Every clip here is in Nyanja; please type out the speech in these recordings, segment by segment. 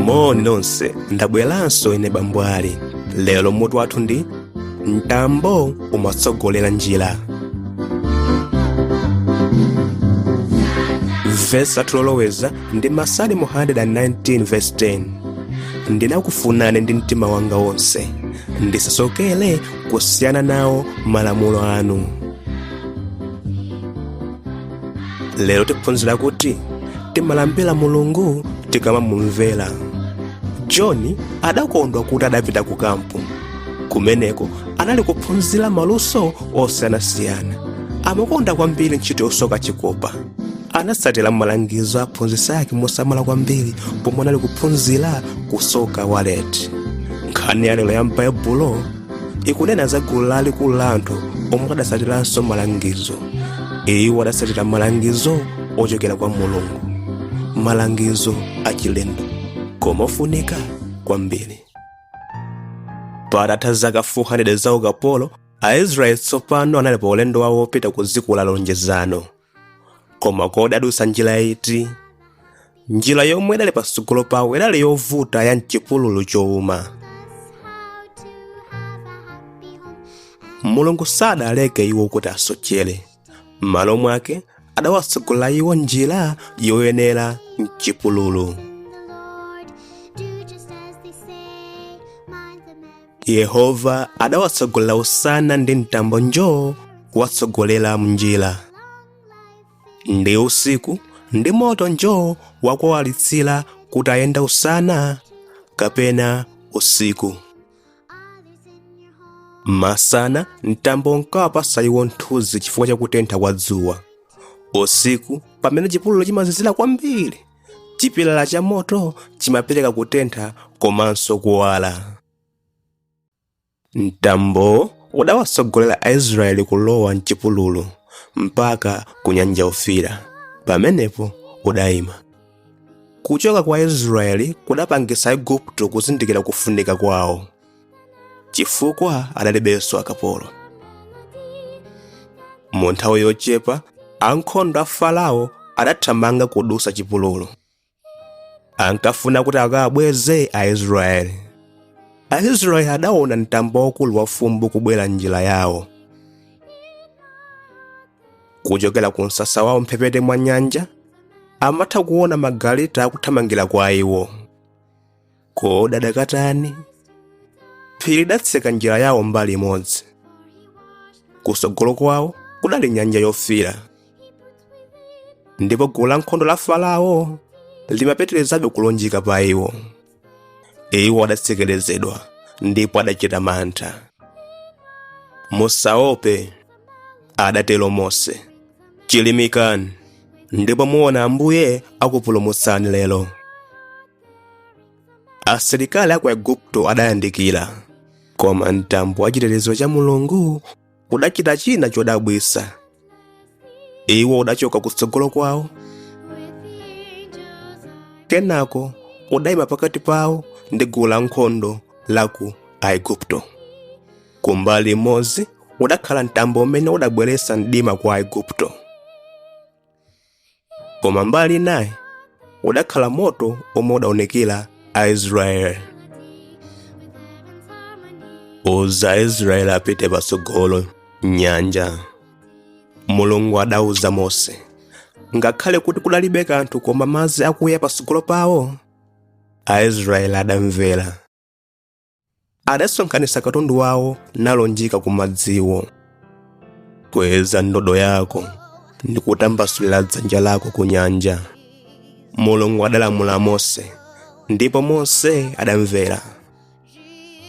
moni nonse ndabweranso ine bambwali lero mutu wathu ndi mtambo umatsogolera njira vesi lathu loloweza ndi masalimo 119 vesi 10 ndinakufunani ndi mtima wanga wonse ndisasokere kusiyana nawo malamulo anu lero tiphunzira kuti timalambira mulungu tikamamumvera john adakondwa kuti adapita ku kampu kumeneko anali kuphunzira maluso osiyanasiyana amakonda kwambiri ntchito yosoka chikopa anatsatira malangizo aphunzitsi ake mosamala kwambiri pomwe anali kuphunzira kusoka waleti nkhani ya lero ya m'baibulo ikunena za gulu lalikulu la anthu omwe adatsatiranso malangizo iwo adatsatira malangizo ochokera kwa mulungu malangizo achilendo koma ofunika kwambiri patatha zaka 400 za ukapolo aisraeli tsopano anali pa ulendo wawo wopita ku dziko la lonjezano koma kodi adusa njira iti njira yomwe idali patsogolo pawo idali yovuta ya mchipululu chowuma mulungu sadaleke iwo kuti asochere m'malo mwake adawatsogolera iwo njira yoyenera mchipululu yehova adawatsogolera usana ndi mtambo njoo kuwatsogolera mnjira ndi usiku ndi moto njoo wakuwawalitsira kuti ayende usana kapena usiku masana mtambo unkawapasa iwo mthunzi chifukwa cha kutentha kwa dzuwa usiku pamene chipululu chimazizira kwambiri chipilala cha moto chimapereka kutentha komanso kuwala mtambowo udawatsogolera aisraeli kulowa mchipululu mpaka ku nyanja yofiira pamenepo udayima kuchoka kwa aisraeli kudapangitsa aigupto kuzindikira kufunika kwawo chifukwa adalibenso akapolo mu nthawi yochepa ankhondo a farao adathamanga kudusa chipululu ankafuna kuti akawabweze aisraeli aisraeli adaona mtambo waukulu wa fumbi kubwera mnjira yawo kuchokera ku msasa wawo mphepete mwa nyanja amatha kuona magaleta akuthamangira kwa iwo kodi akadatani phiri lidatseka njira yawo mbali imodzi kutsogolo kwawo kudali nyanja yofira ndipo gulu la nkhondo la farao limapeterezabe kulunjika pa iwo iwo adatsekerezedwa ndipo adachita mantha musaope adatero mose chilimikani ndipo muona ambuye akupulumutsani lero asilikali a ku aigupto adayandikira koma mtambo wa chitetezo cha mulungu udachita china chodabwitsa iwo udachoka kutsogolo kwawo kenako udayima pakati pawo ndi gulu la nkhondo la ku aigupto kumbali imodzi udakhala mtambo umene udabweretsa mdima kwa aigupto koma mbali naye udakhala moto omwe udaonekera aisraeli uza aisraeli apite patsogolo nyanja mulungu adauza mose ngakhale kuti kudalibe kanthu koma madzi akuya patsogolo pawo aisraeli adamvera adasonkhanitsa katundu wawo nalunjika ku madziwo kweza ndodo yako ndi kutambasulira dzanja lako ku nyanja mulungu adalamula mose ndipo mose adamvera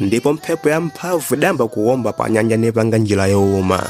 ndipo mphepo ya mphamvu idayamba kuwomba pa nyanja nipanga njira yowuma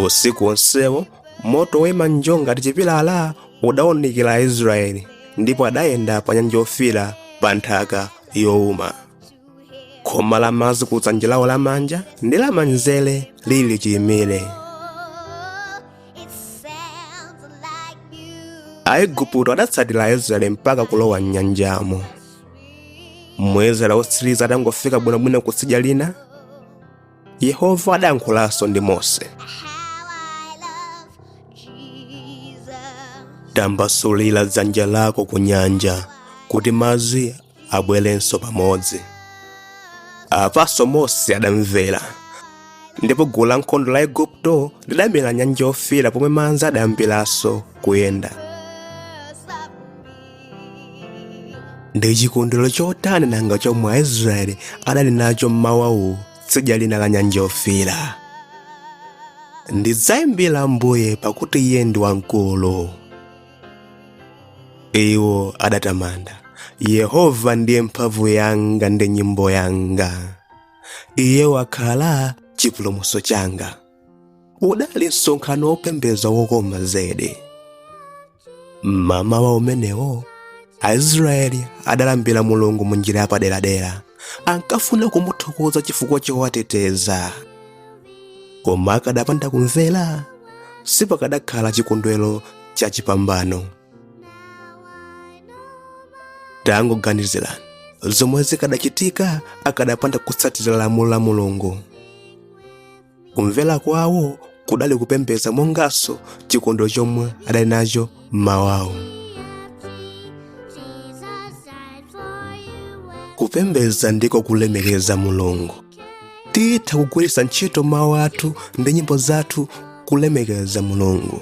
usiku wonsewo moto woyima njoo ngati chipilala udawunikira aisraeli ndipo adayenda pa nyanja yofira pa nthaka yowuma khoma la madzi ku dzanja lawo lamanja ndi lamanzere lili chiyimire aigupto adatsatira aisraeli mpaka kulowa m'nyanjamo mwisraeli wotsiriza atangofika bwinobwino kutsidya lina yehova adayankhulanso ndi mose tambasulira dzanja lako ku nyanja kuti madzi abwerenso pamodzi apanso mose adamvera ndipo gulu la nkhondo la aigupto lidamira m'nyanja yofira pomwe madzi adayambiranso kuyenda ndi chikondwero chotani nanga chomwe aisraeli adali nacho m'mawawu tsidya lina la nyanja yofira ndidzayimbira ambuye pakuti iye ndi wamkulu iwo adatamanda yehova ndiye mphamvu yanga ndi nyimbo yanga iye wakhala chipulumutso changa udali msonkhano wopembeza wokoma zedi mmamawa umenewo aisraeli adalambira mulungu mu njira yapaderadera ankafuna kumuthokoza chifukwa chowateteza koma akadapanda kumvera sipakadakhala chikondwero cha chipambano tangoganizirani zomwe zikadachitika akadapanda kutsatira lamulo la mulungu kumvera kwawo kudali kupembedza monganso chikondo chomwe adali nacho mmawawo kupembedza ndiko kulemekeza mulungu titha kugwiritsa ntchito mawu athu ndi nyimbo zathu kulemekeza mulungu